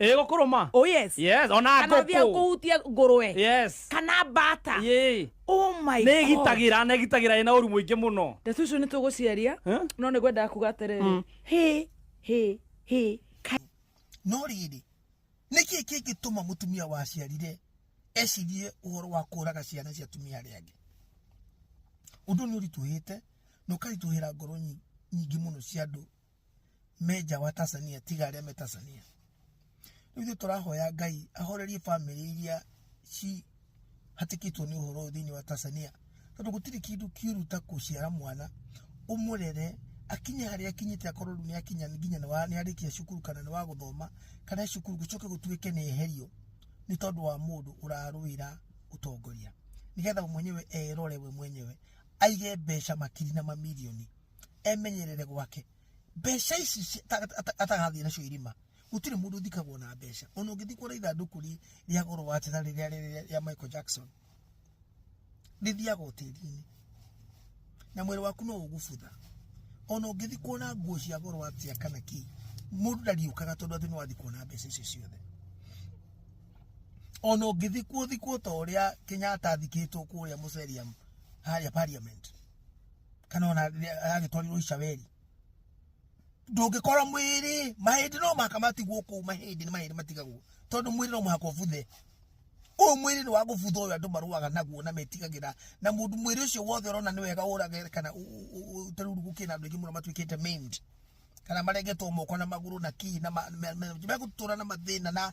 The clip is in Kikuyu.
ä gå kå rå ma oh yes yes ona kana thia ngå kå kuhutia ngurwe yes kana bata Yee. oh my nä God. gitagä ra nä gitagä ra ä na å ru må ingä må no ndeto icio nä tå gå ciaria Eh? no nä gwendaga kuga atä rä Mm. hä hä hä no rĩrĩ nĩ kĩĩ kĩngĩtũma mũtumia waciarire ecirie ũhoro wa kũraga ciana cia atumia arĩa angĩ ũndũ nĩ ũritũhĩte na ũkaritũhĩra ngoro nyi- nyingĩ mũno cia andũ menja wa Tanzania tiga arĩa me Tanzania rĩu ithuĩ tũrahoya Ngai ahorerie bamĩrĩ iria ci hatĩkĩtwo nĩ ũhoro ũyũ thĩinĩ wa Tanzania tondũ gũtirĩ kĩndũ kĩũru ta gũciara mwana ũmũrere akinye harĩa akinyĩte akorwo rĩu nĩ akinya nginya nĩ wa- nĩ arĩkia cukuru kana nĩ wa gũthoma kana e cukuru gũcoke gũtuĩke nĩ eherio nĩ tondũ wa mũndũ ũrarũĩra ũtongoria nĩgetha we mwenyewe erore we mwenyewe aige mbeca makiri na mamirioni emenyerere gwake mbeca ici ci- ta- ta- ta- atagathiĩ nacio irima gũtirĩ mũndũ ũthikagwo na mbeca ona ũngĩthiĩ kuona ithandũkũ rĩ- rĩa goro wa njĩra rĩrĩa rĩrĩa rĩa michael jackson rĩthiaga o tĩri-inĩ na mwĩrĩ waku no ũgũbutha ona ũngĩthiĩ kuona nguo cia goro atia kana kĩ mũndũ ndariũkaga tondũ atĩ nĩ wathiĩ kuona mbeca icio ciothe ona ũngĩthikwo thikwo ta ũrĩa kenyatta athikĩtwo kũrĩa mũceriamu harĩa parliament kana ona agĩtwarirwo Ishaeli ndũngĩkorwo mwĩrĩ mahĩndĩ no mũhaka matigwo kũu mahĩndĩ nĩ mahĩndĩ matigagwo tondũ mwĩrĩ no mũhaka ũbuthe ũyũ mwĩrĩ nĩ wa gũbutha ũyũ andũ marũaga naguo na metigagĩra na mũndũ mwĩrĩ ũcio wothe ũrona nĩ wega ũrage kana tarĩu gũkĩrĩ na andũ aingĩ mũno matuĩkĩte maimed kana marengetwo moko na magũrũ na kii na megũtũra na mathĩna na